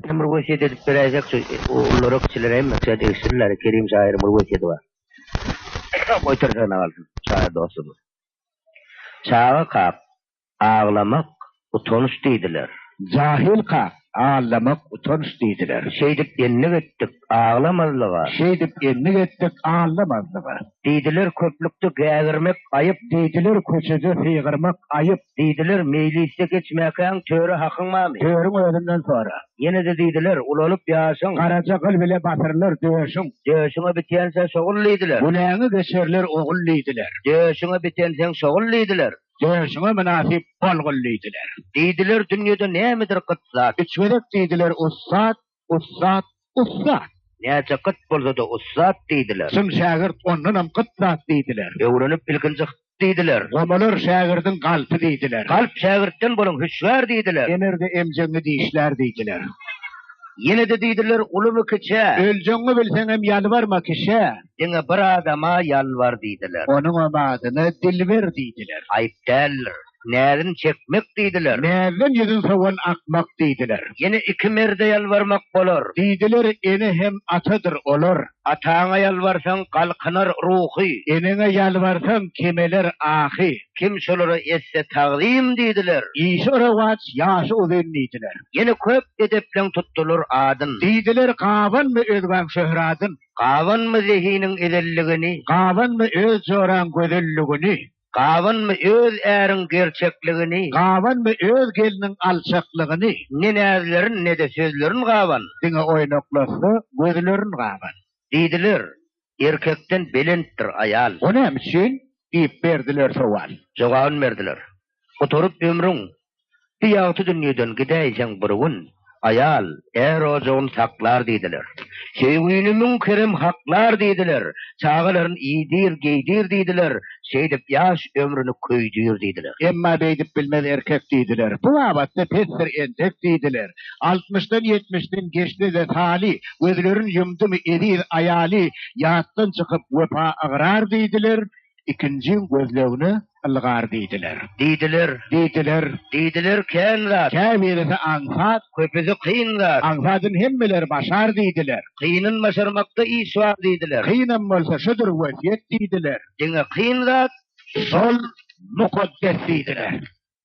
Sen bir wesýet edip beräýseň şu ogullary kiçileri hem şa degişsinler Kerim şaýyryň bir wesýeti bar. Goýtarsana galsyn şaýyr dostumyz. Çaga kak, aglamak utanç diýdiler. Jahyl kak, aglamak utanç diýdiler. Şeýdip endik etdik aglamazlyga. Şeýdip endik etdik aglamazlyga. Diýdiler köplükde gägirmek aýyp. Diýdiler köçede hygyrmak aýyp. Diýdiler, Meýlisde geçmäkäň töre hakyň barmy? Törüň özünden sora. Ýene-de diýdiler, Ulalyp ýaşyň. Garaja gyl bile basyrylar döşüň. Döşüňe bitense şogul diýdiler. Güläňi geçerler ogul diýdiler. Döşüňe bitenseň şogul diýdiler. Döşüňe mynasyp bolgul diýdiler. Diýdiler, Dünýede nämedir gyt zat. Üç gezek diýdiler, Ussat! Ussat, ussat! Näçe gyt bolsa-da ussat diýdiler. Çyn şägirt ondanam gyt zat diýdiler. Öwrenip ilkinji hyt diýdiler. Gomular şägirdiň galpy diýdiler. Galp şägirtden bolan hüşgär diýdiler. Emer-de emjegiňi dişlär diýdiler. Ýene-de diýdiler, ulumy-kiçä. Öljegiňi bilseňem ýalbarma kişä. Diňe bir adama ýalbar diýdiler. Onuňam adyna Dilber diýdiler. Aýyp däldir. Näzini çekmek diýdiler. Näzden ýüzin sowan akmak diýdiler. Ýene iki merde ýalbarmak bolar. Diýdiler, ene hem atadyr olar. Ataňa ýalbarsaň, galkynar ruhy. Eneňe ýalbarsaň, kemeler ahy. Kim şolara etse tagzym diýdiler. Işi rowaç, ýaşy uzyn diýdiler. Ýene köp edepleň tutdular adyn. Diýdiler, gabanma özgäň şöhradyn. Gabanma zehiniň ezelligini. Gabanma öz joraň gözelligini. Gabanmy öz äriň gerçekligini. Gabanmy öz gelniň alçaklygyny. Ne näzlerin, ne-de sözlerin gaban. Diňe oýnaklaşsa gözlerin gaban. Diýdiler, Erkekden belentdir aýal. O näme üçin? diýip berdiler sowal. Jogabyn berdiler, Gutaryp ömrüň, Bu ýagty dünýeden gidäýjeň bir gün, Aýal, är ojagyn saklar diýdiler. Söýgini müň kerem haklar diýdiler, Çagalaryn iýdir, geýdir diýdiler, Şeýdip ýaş ömrüni köýdür diýdiler. Emma beýdip bilmez erkek diýdiler, Bu babatda pesdir entek diýdiler. Altmyşdan ýetmişden geçdi-de taly, Gözlerin ýumdumy eziz aýaly, Ýatdan çykyp wepa ygrar diýdiler, ikinjiň gözlegine ylgar diýdiler. Diýdiler. Diýdiler. Diýdiler kän zat. Käbirisi aňsat. Köpüsi kyn zat. Aňsadyny hemmeler başar diýdiler. Kynyn başarmakda iş bar diýdiler. Kynam bolsa şudur wesýet diýdiler. Diňe kyn zat şol mukaddes diýdiler.